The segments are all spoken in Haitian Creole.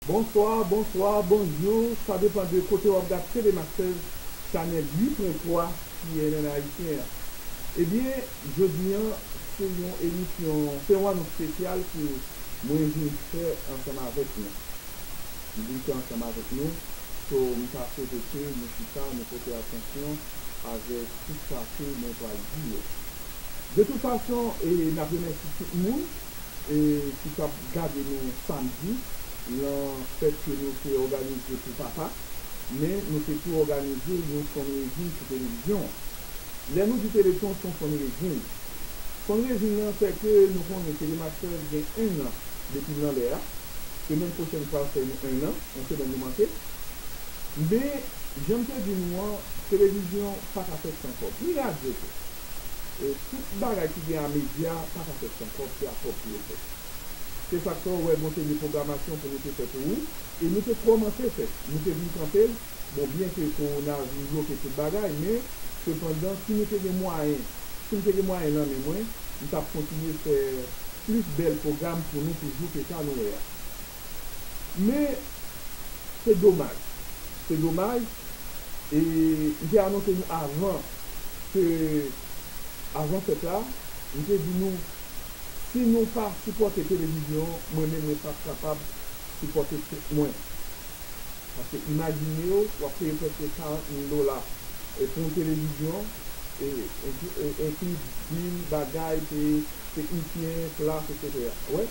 Bonsoir bonsoir bonjour sa depan de kote wap gad TV Masters chanel 8 pwen 3 cnn ayisyen an ebyen jodi an se yon emisyon se yon anons spesyal ke mwen vin fè ansanm avèk nou m vin fè ansanm avèk nou so m ta swete ke nou chita nou pote atansyon avèk tout sa ke mwen pral di yo de tout fason e nap remèsi tout moun. ki tap gade nou samdi lan fèt ke nou te òganize pou papa, men nou te tou òganize yon fundraising pou televizyon an. Lè nou di telethon son fundraising. Fundraising lan fè ke nou konnen telemax 13 gen 1 an depil lan lè a, semèn pwochèn pral fè 1 an, yon semèn nou manke. Men janm te di nou an televizyon paka fèt san kòb, ni radyo tou. Tout bagay ki gen a medya pa ka fèt san kòb, se ak kòb pou yo fèt. Se sa k fè ou wè gon seri de pwogramasyon pou nou te fè pou ou e nou te kòmanse fè, nou te vin kanpe l, bon byen ke kowona vin bloke tout bagay men sepandan si nou te gen mwayen, si m te gen mwayen nan men mwen, m t ap kontinye fè plis bèl pwogram pou nou toujou ke sa nou wè a. Men, se domaj, se domaj, e m te anonse nou avan ke, avan fèt la, m te di nou, si nou pa sipòte televizyon an, mwen menm mwen p ap kapab sipòte tèt mwen. Paske imajine w, w ap peye prèske 40 mil dola pou yon televizyon, e enkli bil, bagay, peye teknisyen, plas, eksetera. Ou wè?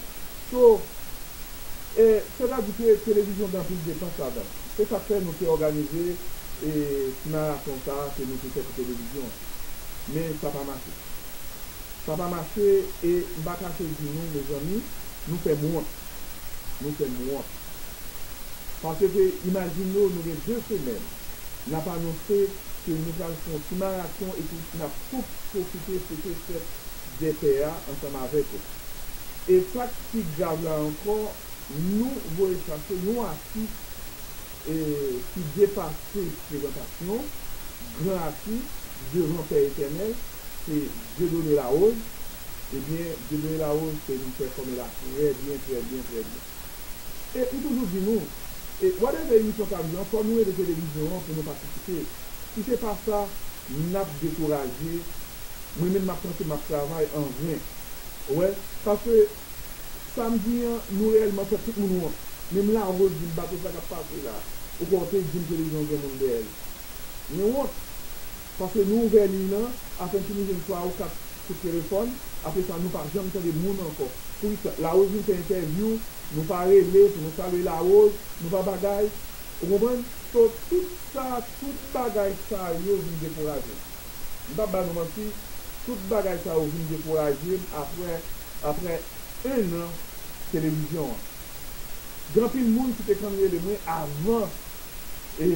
So, e, sètadi ke televizyon gen anpil depans ladan. Se sa k fè nou te òganize, e, ti maraton sa a ke nou te fè pou televizyon an. Men sa pa mache. Sa pa mache, e, m pa kache di nou, mezanmi, nou fè m wont. Nou fè m wont. Paske, imajine w nou gen de semèn, n ap anonse ke nou pral fè yon ti maraton epi n ap pwofite fete fèt. de pè a ansanm avèk ou. E sa k pi grav la ankò, nou voye chache yon atis ki depase prezantasyon, gran atis devan Pè Etènèl, se Dieudonné Larose. Ebyen, Dieudonné Larose se yon pè fòmè la trè byen, trè byen, trè byen. E m toujou di nou, whatever emisyon k ap jwe an, fò nou rele televizyon an pou nou patisipe. Si se pa sa, Nap dekouraje, mwen menm map panse map travay an ven. Ou wè? Paske, sam di an, nou reyèlman fè tout moun wont. Menm Larose dim bato sa kap pase la, ou kwè ou te dim televizyon gen moun dèyèl. Mwen wont. Paske nou ouvè liy lan, afen fini jwenn 3 ou 4 kout telefòn, apresa nou pa janm tande moun ankò. Poukisa? Larose vin fè entèvyou, nou pa rele pou nou salye Larose, nou pa bagay. Ou konprann? So tout sa, tout bagay sa yo vin dekouraje m. M pap ba nou manti, tout bagay sa yo vin dekouraje m aprè, aprè 1 an televizyon an. Gen anpil moun ki te konn rele mwen avan e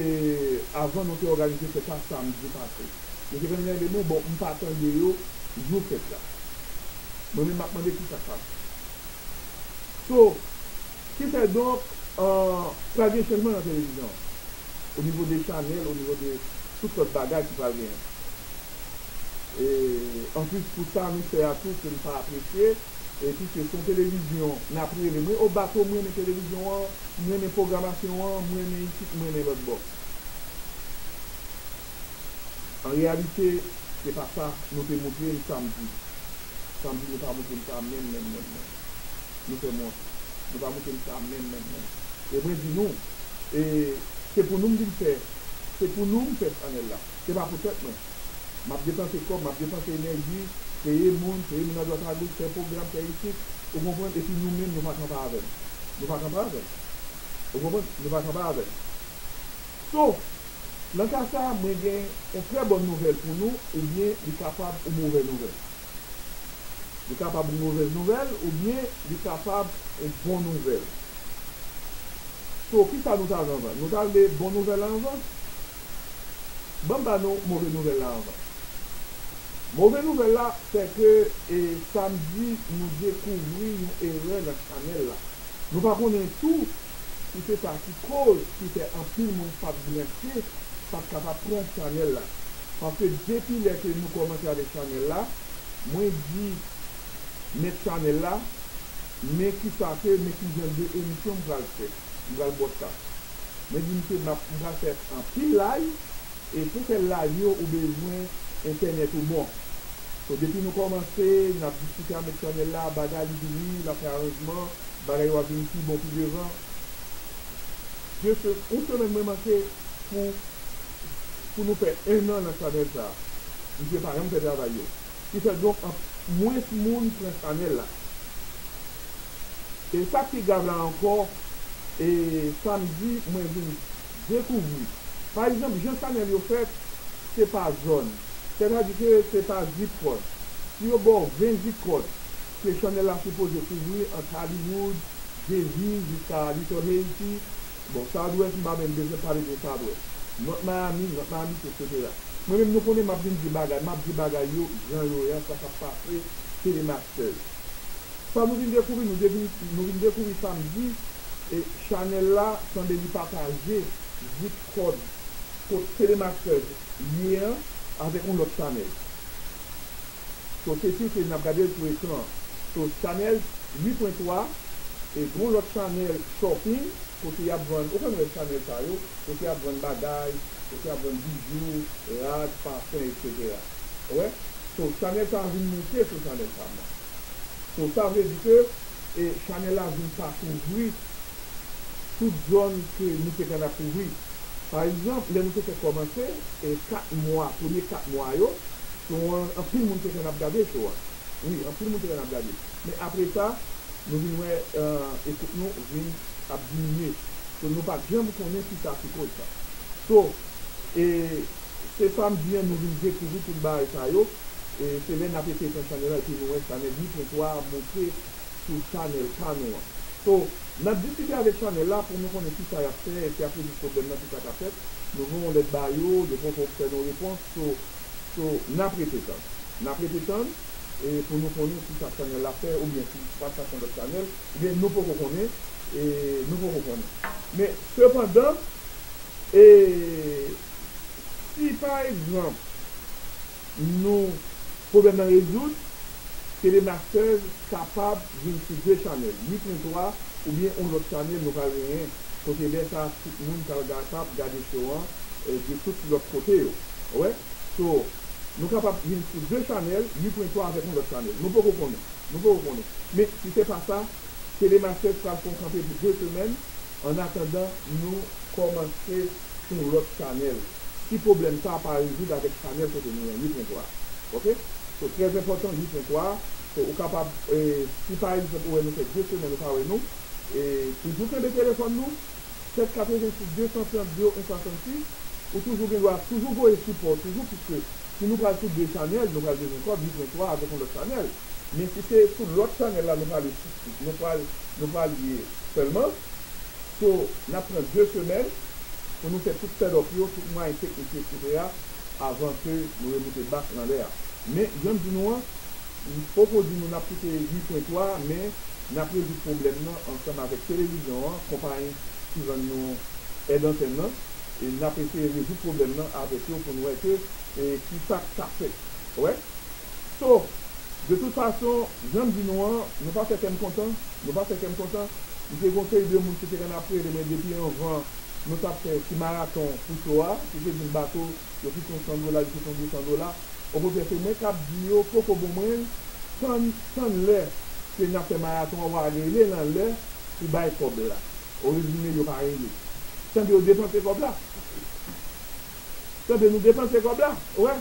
avan nou te òganize fèt la samdi pase. Yo te konn rele mwen, bon m pa tande yo jou fèt la. Mwen menm m ap mande kisa k pase. So. Ki fè donk, pral gen chanjman nan televizyon an. O nivo de chanèl, o nivo de tout lòt bagay ki pral genyen. E anplis pou sa nou fè a tou ke m pa apresye, e piske se yon televizyon n ap rele mwen o bato m renmen televizyon an, m renmen pwogramasyon an, m renmen isit, m renmen lòtbò. An reyalite, se pa sa nou te moutre m samdi. Samdi nou pa moutre m sa menm menm menm menm. Nou fè mòd. Nou pa moute m sa menm menm menm. E mwen di nou, e, se pou nou m vin fè, se pou nou m fè chanèl la. Se pa pou tèt mwen. M ap depanse kòb, m ap depanse enèji, peye moun, peye moun adwat agoch, fè pwogram, fè isit, ou konprann, epi nou menm nou pa kanpe avè m. Nou pa kanpe avè m. Ou konprann? Nou pa kanpe avè m. Sof, nan ka sa a, mwen gen yon trè bòn nouvèl pou nou, oubyen li kapab yon movè nouvèl. Li kapab yon movèz nouvèl ou byen li kapab yon bon nouvèl. So ki sa nou ta vle anvan? Nou ta vle bon nouvèl la anvan? Ban m ba nou move nouvèl la anvan. Move nouvèl la se ke e samdi nou dekouvri yon erè nan chanèl la. Nou pa konnen tou ki se sa ki koz ki fè anpil moun pat branche pat kapab pran chanèl la paske depi lè ke nou kòmanse avèk chanèl la mwen di mèt chanèl la men kisa ke men kijan de emisyon m pral fè m pral broadcast mwen di misye m pral fè anpil live e pou fè live yo ou bezwen entènèt ou bon so depi nou kòmanse nap diskite a mèt chanèl la bagay li vini lap fè aranjman Bagay yo ap vin pi bon pi devan. Dye se yon semèn mwen manke pou pou nou fè 1 an nan chanèl sa. Misye pa janm fè travay yo. Ki fè donk an mwens moun pran chanèl la. E sak pi grav la ankò e samdi mwen vin dekouvri pa egzanp jan chanèl yo fèt se pa zòn. Sètadi ke se pa zip kòd. Si yo baw 20 zip kòd. ke channel la sipoze kouvri ant Hollywood, Jay-Z jiska Little Haiti, bon Southwest m pa menm bezwen pale de Southwest, North Miami, North Miami Beach etc. Mwen menm nou konnen map vin di bagay, map di bagay yo jan yo ye a sa kap pase Tele Masters. Sa nou vin dekouvri nou devin nou vin dekouvri samdi e channel la sanble li pataje zip code kot Tele Masters ye an avèk yon lòt channel. So kesyon se nap gadel sou ekran. So chanel 8 pwen 3 e gon lot chanel shopping kote yap vann ou konn we chanel sa yo kote yap vann bagay kote yap vann bijou rad pafen etc ou we so chanel sa vin moute sou chanel pam nan so sa vle di ke e chanel la vin pa kouvri tout zon ke nou te konn ap kouvri. Pa egzanp, lè nou te fè kòmanse, e 4 mwa, premye 4 mwa yo, show an, anpil moun te fè nap gade show a. Wi, anpil moun te fè nap gade. Men apre sa, nou vin wè ekout nou vin ap diminye. So, nou pat janm konnen kisa ki koz sa. So, e se sa m di an, nou vin dekouvri tout bagay sa yo, e se lè nap ete pran chanèl la epi nou wè sa nèg Ni Pwen 3 a monte. sou chanèl pa nou an. So, nap diskite avèk chanèl la pou nou konnen kisa yap fè epi ap rezoud pwoblèm nan kisa ka fèt. Nou voye yon lèt ba yo, yo poko fè nou repons so, so nap rete tann. Nap rete tann e pou nou konnen kisa chanèl la fè oubyen si sa ka son lòt chanèl oubyen nou poko konnen e nou poko konnen. Men sepandan e si pa egzanp nou pwoblèm nan rezoud, Telemasters kapab vin sou 2 chanèl, 8 en 3 oubyen on lòt chanèl nou pral genyen kote lè sa tout moun pral kapab gade show an de tout lòt kote yo wè so nou kapab vin sou 2 chanèl, 8 pwen 3 avèk on lòt chanèl nou poko konnen nou poko konnen men si se pa sa Telemasters pral fon kanpe pou 2 semèn an atandan nou kòmanse. sou yon lòt chanèl si pwoblèm sa pa rezoud avèk chanèl kote nou an 8 pwen 3 ok so trè enpòtan 8 pwen 3 so ou kapab si pa egzanp ou wè nou fè 2 semèn ou pa wè nou toujou kenbe telefòn nou 7 86 230 01 66 ou toujou gen dwa toujou voye sipò toujou pwiske si nou pral sou 2 chanèl nou pral bezwen kòb 8 pwen 3 avèk yon lòt chanèl men si se sou lòt chanèl la nou pral nou pral ye sèlman. So nap pran 2 semèn pou nou fè tout set up yo, tout mwayen teknik yo etc avan ke nou remoute back nan lè a. Men janm di nou an, m poko di nou nap kite 8 pwen 3 a men nap rezoud pwoblèm nan ansanm avèk televizyon an, konpayi ki vann nou èd antèn nan e nap eseye rezoud pwoblèm nan avèk yo pou n wè ke e kisa k ka fèt. Wè? So, de tout fason, jan m di nou an, nou pa fè kè m kontan, nou pa fè kè m kontan. M te gen yon seri de moun ki te konn ap rele mwen depi anvan nou t ap fè ti maraton pou so a, ki te di m, Bato, yo kite yon san dola, yo kite yon 200 dola. Okontrè, se mwen k ap di yo, poko bon mwen, tann, tann lè ke n ap fè maraton an, w a rele lan lè pou bay kòb la. Orezime, yo pa rele. Sa vle di yo depanse kòb la. Tande nou depanse kob la wè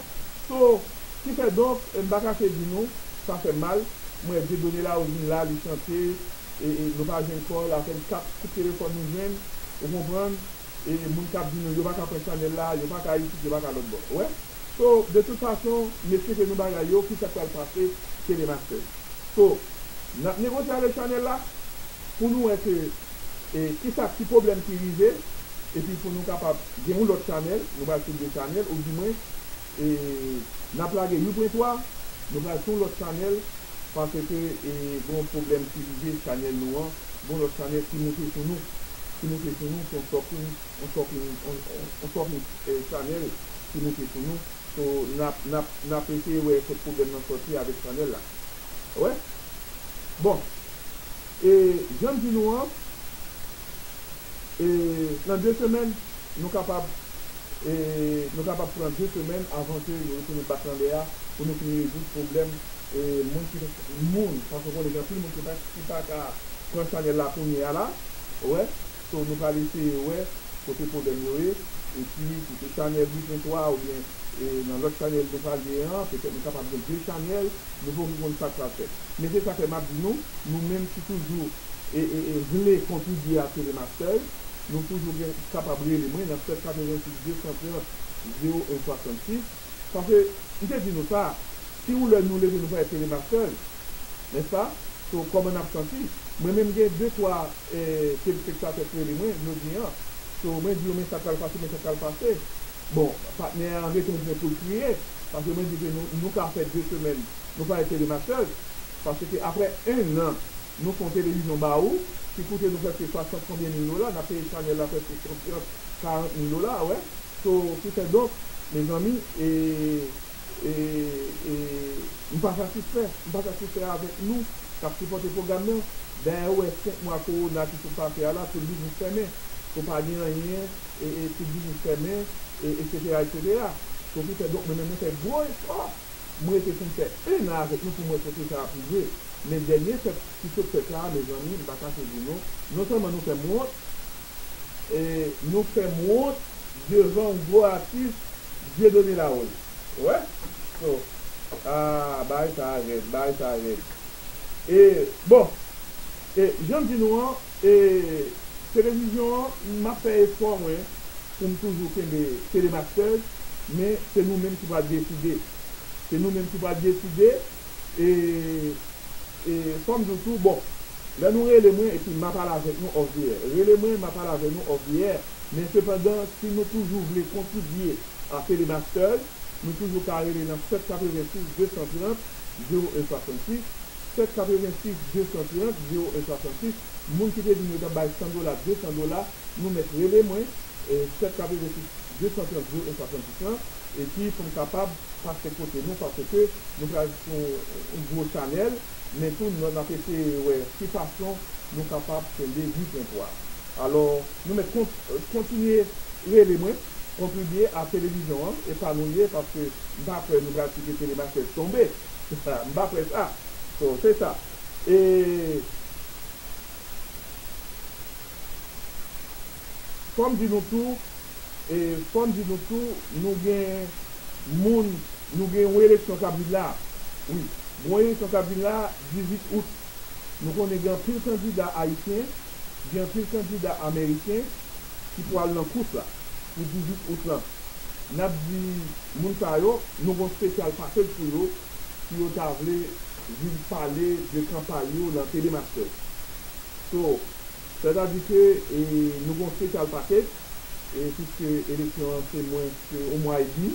so ki fè donk m pa kache di nou sa fèm mal m wè Dieudonne Laroche vin la li chante e e nou pa jwenn kòl apèn kat kout telefòn nou jwenn ou konprann e e moun kap di nou yo pa ka pran chanèl la yo pa ka isit yo pa ka lòtbò wè so de tout fason mesye ke nou bagay yo ki sak pral pase Telemaster so nap negosye avèk chanèl la pou nou wè ke. e kisa ki pwoblèm ki rive epi pou nou kapab gen yon lòt chanèl nou pral sou 2 chanèl ou di mwen e nap lage you pren 3 nou pral sou yon lòt chanèl paske e gen yon pwoblèm ki rive chanèl nou an gen yon lòt chanèl ki moute sou nou ki moute sou nou se yon sòping yon sòping yon sòping chanèl ki moute sou nou so nap nap nap eseye wè kot pwoblèm nan sòti avèk chanèl la wè bon. E jan m di nou an, e nan de semèn, nou kapab, e nou kapab pran de semèn avan ke yo retounen bak nan lè a pou nou fini rezoud pwoblèm e moun ki pa, moun, paske ou konnen gen anpil moun ki pa, ki pa ka pran chanèl la kounye a la, ou wè, so nou pral eseye wè kote pwoblèm yo ye, epi si se chanèl Bricklin 3 oubyen e nan lòt chanèl nou pral gen an, petèt nou kapab gen de chanèl. Nou fòk nou konn sa k pral fèt. Men se sa k fè m ap di nou, nou menm ki toujou vle kontribye a Tele Masters, nou toujou gen kapab rele mwen nan 7 86 230 01 66. Paske, m te di nou sa, si yon lè nou leve nou pa wè Tele Masters, nèspa? So, kòman n ap santi? Mwen menm gen de twa telespektatè k rele mwen jodi an. So, mwen di yo men sa k pral pase, men sa k pral pase. Bon patnè an retounen poul kriye paske mwen di ke nou nou ka fè 2 semèn nou pa ete rematchèz paske aprè 1 nan nou fon televizyon ba ou ki koute nou prèske 60 konbyen mil dola nap peye chanèl la prèske 130 40 mil dola wè so ki fè donk mezanmi e e e m pa satisfè m pa satisfè avèk nou kap sipòte pwogram nan dayè ou wè 5 mwa kowona ki sot pase a la tout biznis fèmen so pa gen anyen tout biznis fèmen, eksetera, eksetera. So ki fè donk mwen menm mwen fè gwo efò, m rete pou m fè 1 an avèk nou pou m wè kote sa ap rive. Men dènye fèt ki sot fèt la a mezanmi m pa kache di nou, non sèlman nou fè m wont, nou fè m wont devan yon gwo atis Dieudonné Larose. Ou wè? So, aah bagay sa a rèd, bagay sa a rèd. E bon, e jan m di nou an. E televizyon an m ap fè efò mwen pou m toujou kenbe Telemasters men se nou menm ki pral deside se nou menm ki pral deside e e fò m di w tou bon lè nou rele mwen epi m ap al avèk nou off the air rele mwen m ap al avè nou off the air men sepandan si nou toujou vle kontribye a Telemasters nou toujou ka rele nan 7 86 230 01 66. Sèt 86 230 01 66 Moun ki te di m yo t ap bay 100 dola 200 dola nou mèt rele mwen Sèt 86 230 01 66 lan epi pou m kapab pase kote nou paske nou pral sou yon gwo chanèl men tou n ap eseye wè ki fason nou kapab kenbe ni pwen pwa alò nou mèt kontinye rele mwen kontribye a televizyon an e pa nou l ye paske m pa kwè nou pral kite telemachèz tonbe. M pa près a So se sa Fò m di nou tou Fò m di nou tou Nou gen moun Nou gen yon eleksyon k ap vin la Wi Gon eleksyon k ap vin la 18 Out Nou konnen gen anpil kandida ayisyen gen anpil kandida ameriken ki pou al nan kous la pou 18 out lan. N ap di moun sa yo nou gon spesyal pakej pou yo si yo ta vle vin pale de kanpay yo lan TD Masters. So, sètadi ke nou gon spesyal pakej, e piske eleksyon an se mwens ke on mwa edmi.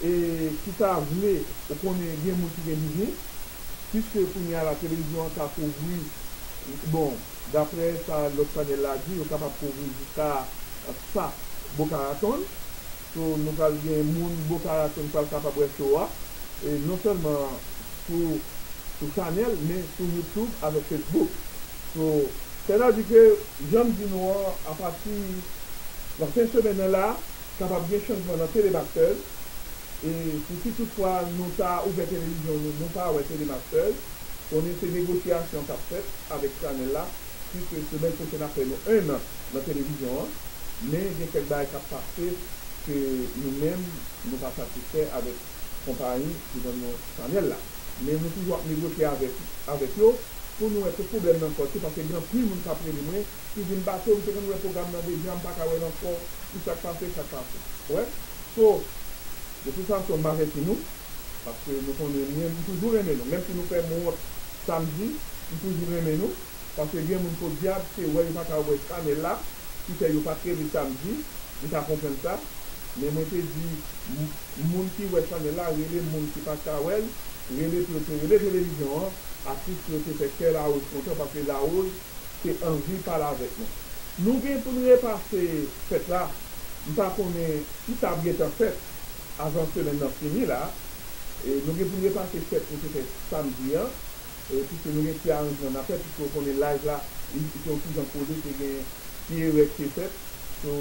E ki ta vle ou konnen gen moun ki gen biznis, piske kounye a la televizyon an ka kouvri, bon, daprè sa lòt chanèl la di, yo kapab kouvri jiska 100 Boca Raton. So, nou pral gen moun Boca Raton pral kapab wè show a, e non sèlman sou sou chanèl, men sou YouTube avèk Facebook. So. Sètadi ke, jan m di nou an, apati nan fen semèn nan la, Kapab gen chanjman nan Telemasters e pou si tout fwa nou ta ouvè televizyon nou, nou pa wè Telemasters, konnen se negosyasyon kap fèt avèk chanèl la, puiske semèn pwochèn ap fè nou 1 an nan televizyon an, men gen kèk bagay kap pase ke nou menm nou pa satisfè avèk konpayi ki vann nou chanèl la. Men nou toujou ap negosye avèk yo pou nou wè kot pwoblèm nan sòti, paske gen anpil moun kap rele mwen, ki vin bato m te konn wè program nan deja m paka wèl ankò pou sak pase sak pase ou wè so. De tout fason m avèti nou paske nou konnen mwen m toujou renmen nou menm si nou fèm wont sa m di m toujou renmen nou paske gen moun podyab se wè yo paka wè chanèl la ki fè yo pa kreve sa m di m ka konprann sa men mwen te di moun ki wè chanèl la rele m moun ki paka wèl rele pou yo te rele televizyon an atris pou yo te fè kè Larose kontan paske Larose. te anvi pale avèk nou. Nou gen pou n repase fèt la, m pa konnen si sa ap gen tan fèt avan semèn nan fini la, nou gen pou n repase fèt nou te fè samdi an, piske nou gen ti aranjman n ap fè, piske ou konnen live la li se yon ti jan kole te gen ti erè ki te fèt, so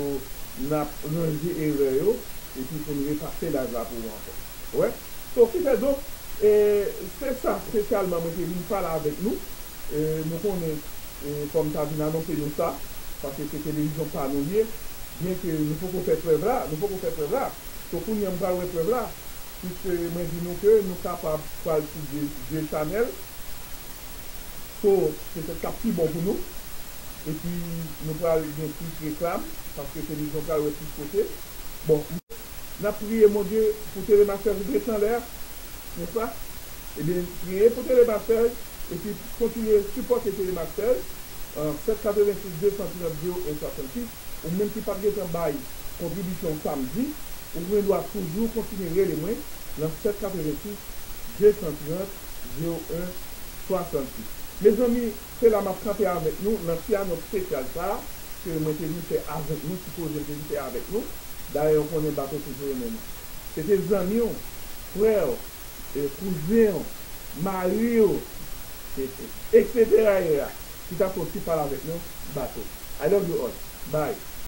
n ap ranje erè yo epi pou n repase live la pou ou ankò. Ou wè? So ki fè donk, se sa spesyalman mwen te vin pale avèk nou. Nou konnen fòm ta vin anonse nou sa, paske se televizyon pa nou li ye, byen ke nou poko fè prèv la, nou poko fè prèv la, so kounye an m pral wè prèv la, pwiske mwen di nou ke nou kapab pral sou 2 chanèl, so petèt kap pi bon pou nou, epi nou pral gen plis reklam, paske televizyon pral wè plis kote, bon. Nap priye Bondye pou Telemaster vin pran chanlè a, nèspa? Ebyen priye pou Tele Marseille epi kontinye sipòte Tele Marseille 786 230 01 66 ou menm ki pat gentan bay kontribisyon samdi ou gen dwa toujou kontinye rele mwen nan 786 230 01 66 mezanmi se la map kanpe avèk nou nan ti anons spesyal sa ke mwen te vin fè avèk nou ti koze m te vin fè avèk nou dayè ou konnen bato toujou renmen nou se te zanmiw frèw e kouzen w, mari w, etc. Etc. Ki tap fè yon ti pale avèk nou, bato. I love you all. Bye.